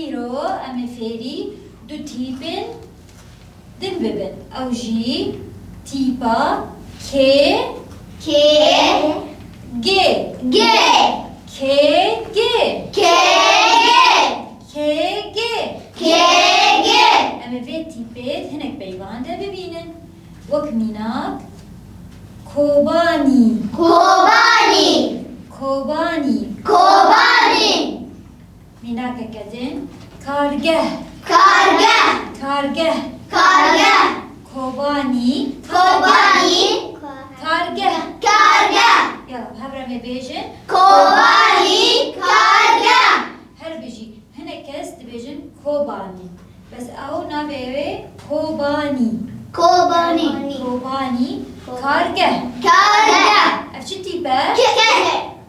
Îro em ê fêrî du tîpên din bibin. Ew jî tîpa kê, kê, gê, gê, kê, gê, kê, gê, kê, gê, kê, gê. Em ê vê tîpê di hinek peyvan de bibînin. Wek mînak, kobanî. Kobanî. Kobanî. Kobanî. Mînakeke din, kargeh. Kargeh. Kargeh. Kargeh. Kobanî. Kobanî. Kargeh. Kargeh. Ya bi hev re me bêjin. Kobanî. Kargeh. Her bijî hinek kes dibêjin kobanî. Bes ew navê ew ê kobanî. Kobanî. Kobanî. Kargeh. Kargeh. Ev çi tîp e? Keke.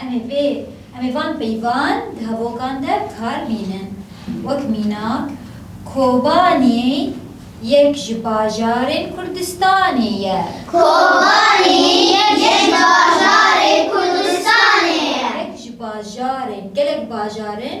Em ê vê em ê van peyvan di hevokan de kar bînin. Wek mînak, Kobanî yek ji bajarên Kurdistanê ye. Kobanî yek ji bajarên Kurdistanê ye. Yek ji bajarên, gelek bajar in.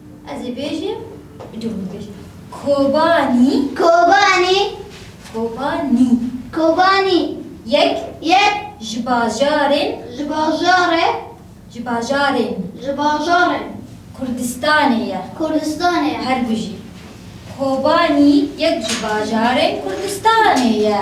Ez ê bêjim bi cû min bêjim. Kobanî. Kobanî. Kobanî. Kobanî. Yek. Yek. Ji bajarên. Ji bajarê. Ji bajarên. Ji bajarên. Kurdistanê ye. Kurdistanê ye. Her du jî. Kobanî yek ji bajarên Kurdistanê ye.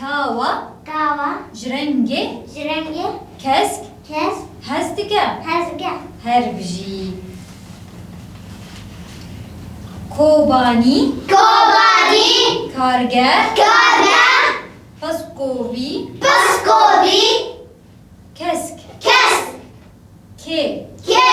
Kawa. Kawa. Ji rengê. Ji rengê. Kesk. Kesk. Hez dike. Hez dike. Her bijî. Kobanî. Kobanî. Kargeh. Kargeh. Piskovî. Piskovî. Kesk. Kesk. Kê. Kê.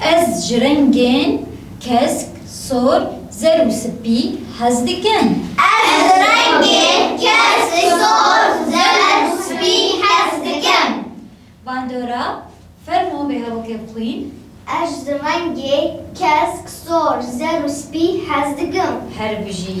Ez ji rengên kesk, sor, zer û spî hez dikim. Ez ji rengên kesk, sor, zer û spî hez dikim. Bandora, fermo vê hevokê bixwîn. Ez ji rengên kesk, sor, zer û spî hez dikim. Her bijî.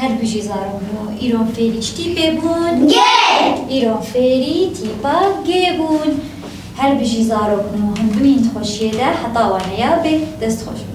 Her bijî zarok bû. Îro fêrî çi tîpê bûn? Gê! Îro fêrî tîpa gê bûn. Her bijî zarok bû. Hûn bimîn di xweşiyê de heta wan heya bê. Dest xweş bû.